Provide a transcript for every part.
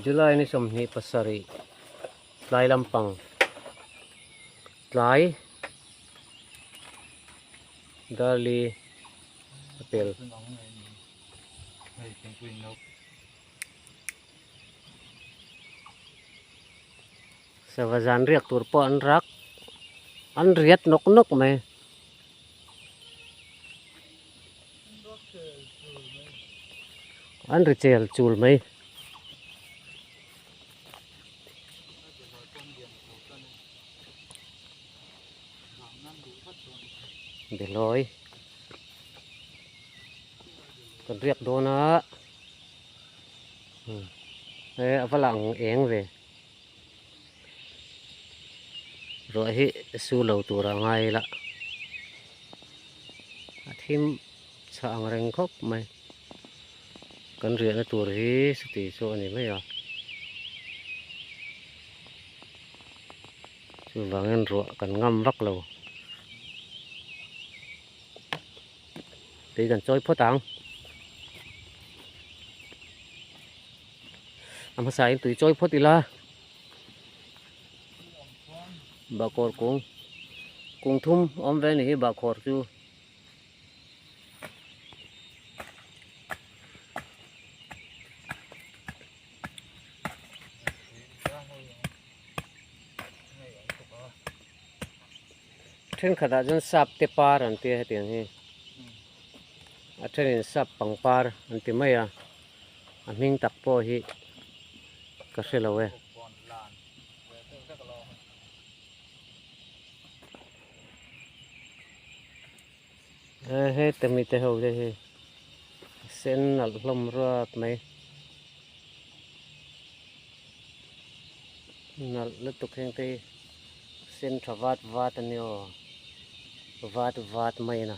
July ni sawmhnih pasarih tlai lampang tlai darli a pel Sava zan riak tur pawh an rak an riat nawk nawk mai. An ri chel chul mai. Beloi. Kan riak dawn a. Hmm. Eh, avala ang eng ve. ruah hi su lo tura ngai ila a thim chhah ang reng khawp mai kan riahna tur hi sati chu a ni mai a chuvangin ruah kan ngam vak lo tui kan chawi phawt ang a hmasa in tui chawi phawt ila bakawr kung kung thum awm ve ni hi bakhawr chu thenkhatah chuan sap te par an tia hetiang hi a thenin sap pangpar an ti mai a. a hming tak pawh hi ka hre lo e. He te mi te ho te hi sen nalh hlawm ruat mai nalh lutuk heng te sen tha vat vat a ni aw vat vat mai na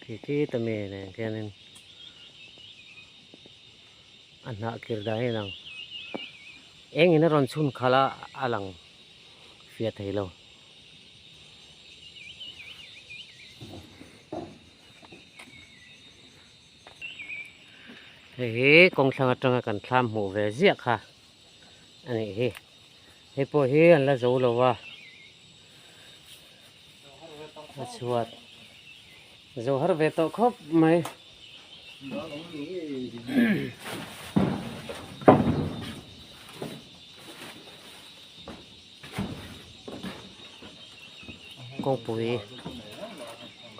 khi khi ta mi nen khianin a hnah kir dan hi a lang eng in a rawn chhun khalh a a lang fia thei lo hei hi kawng thlang atanga kan thlam hmuh ve ziah kha. a nih hi hei pawh hi an la zo lo a a chhuat zo har ve tawh khawp mai kong pui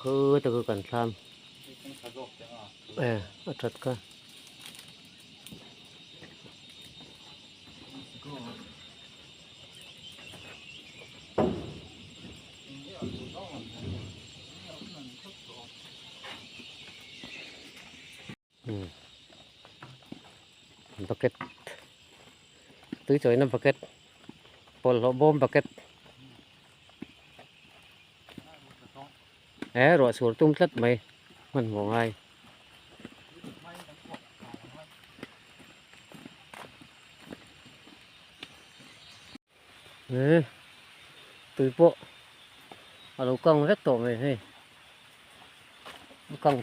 khu ta ku kan thlam eh a that ka bucket tui chawih na bucket pawlh hlawh bawm bucket He ruah sur tum tlat mai hman maw ngai. He tui pawh a lo kang vek tawh mai hei. Kang.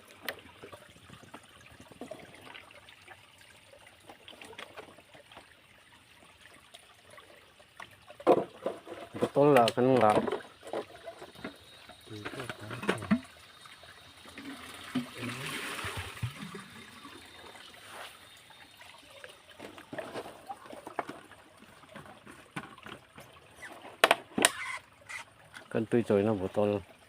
bottle lah kan ngah kan tui chawina bottle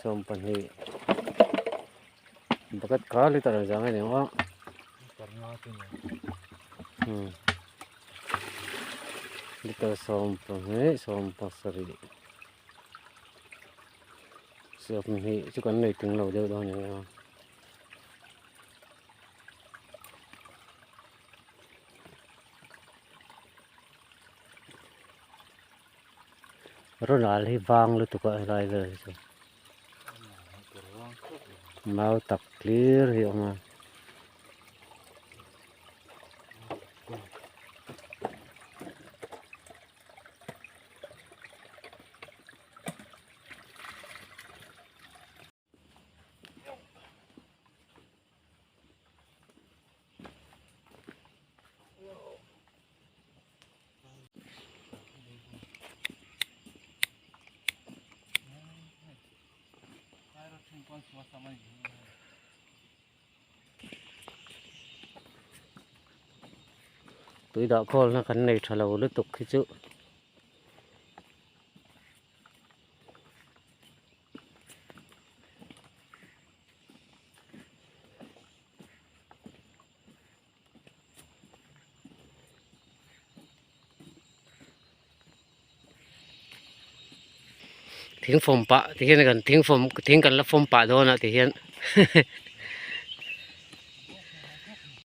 sawm pahnih bucket kar liter a zang ania a hmm. liter sawm pahnih sawm pasarih sawm hi chu kan nei ting lo deuh dawn ania Ronald hi vang lutuk a helai vel hi chu. Mau tak clear hi awm a. tui dah call na kan nei tha lo lutuk khi chu. thing fawm pah te hian a kan thing fawm thing kan la fawm pah dawn a tih hian hehe.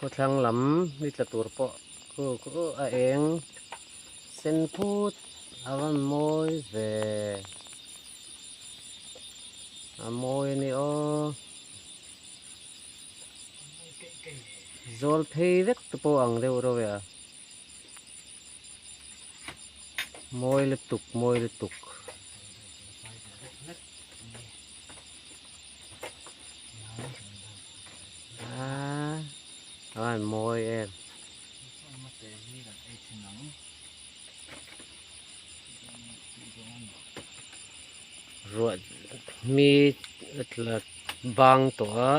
Khawthlang lam ni tla tur pawh khu khu a eng sen put a rawn mawi ve a mawi a ni aw zawl phei vek te pawh ang deuh reuh e a mawi lutuk mawi lutuk. An mawi em. Ruat mi tlat bang tawh a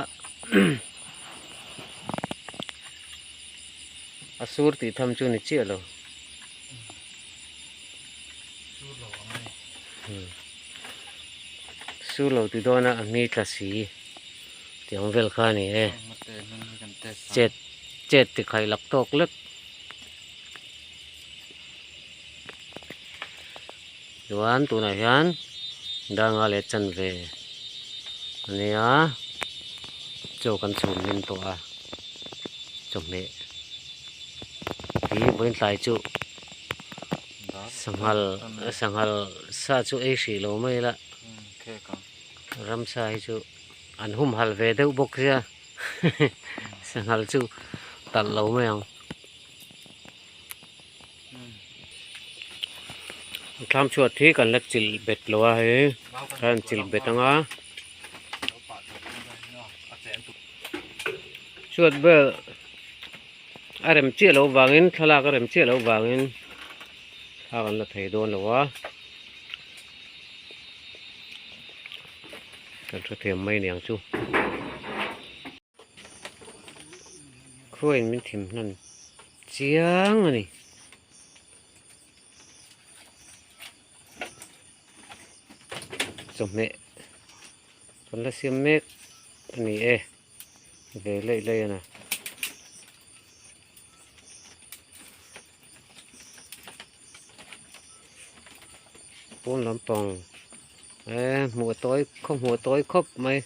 a sur tih tham chu ni chiah lo. Su lo ti dawn a, a hmi tla si ti ang vel kha a ni e. Chet chet ti khai lak tawk lek. Chuan tunah hian danga leh chanve a nia chaw kan chhun hlim tawh a, chawhmeh hi vawiin tlai chu Sanghal sanghal sa chu ei hrih lo mai la ramsa hi chu an hum hal ve deuh bawk zia sanghal chu talh lo mai ang tlam chhuat hi kan la chilh bet lo a hei khan chilh bet ang a chhuat ber. A rem chiah loh vangin, thlalak a rem chiah loh vangin thla kan la thei dawn lo a. Kan hre thei ang mai niang chu. Khuain min thim hlan chiang a ni. Chawhmeh kan la siam mek a ni e. Ve lei lei a na. Pawn lampang. E hmuh tawi khaw hmuh tawi khawp mai.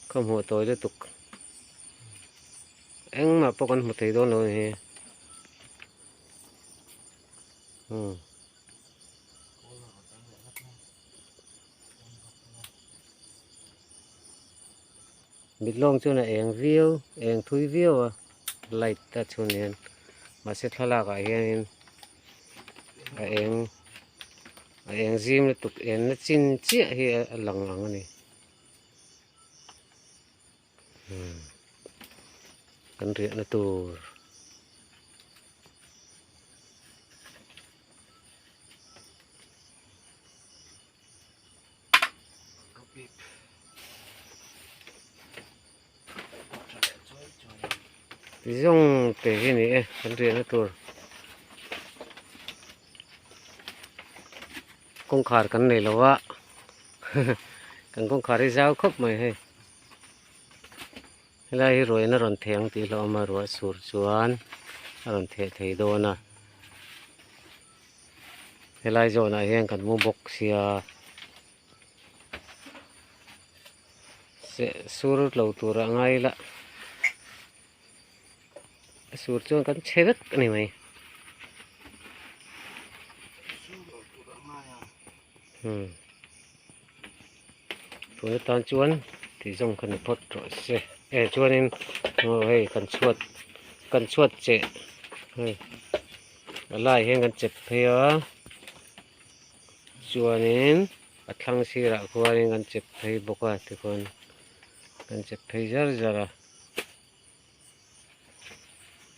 Khaw hmuh tawi le tuk. Engmah pawh kan hmu thei dawn lo ni hi. Hmm. Mitlawng chuan a eng viau, eng thui viau a light a chhun hian. Mahse thlalakah hianin a eng a eng zim lutuk enna chin chiah hi a lang ang a ni. Kan riahna tur zong te hi ni e kan riahna tur kawngkhar kan nei lo a kan kawngkhar hi zau khawp mai hei Helai hi ruahina rawn theh ang tih hlauhawm a, ruah sur chuan a rawn theh thei dawn a. Helai zawnah hian kan hmu bawk sia. Seh sur lo turah ngai la, a sur chuan kan che vek a ni mai. Hmm. tuna tan chuan tui zawng kha ni phawt rawh se eh chuanin aw hei kan chhuat kan chhuat che hei a lai hian kan chet phei a chuanin a thlang sirah khuanin kan chet phei bawk a tichuan kan chet phei zar zar a.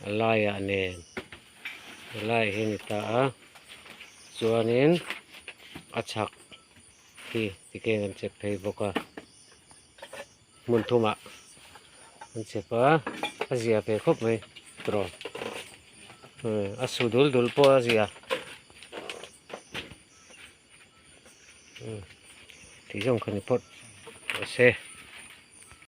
a laiah nen a lai hi a ni ta a chuanin a chhak hi tikhian kan chep phei bawk a hmun thumah kan chep a a zia ve khawp mai tawrh hmm a su dul dul pawh a zia tih zawng kha ni pawt a se.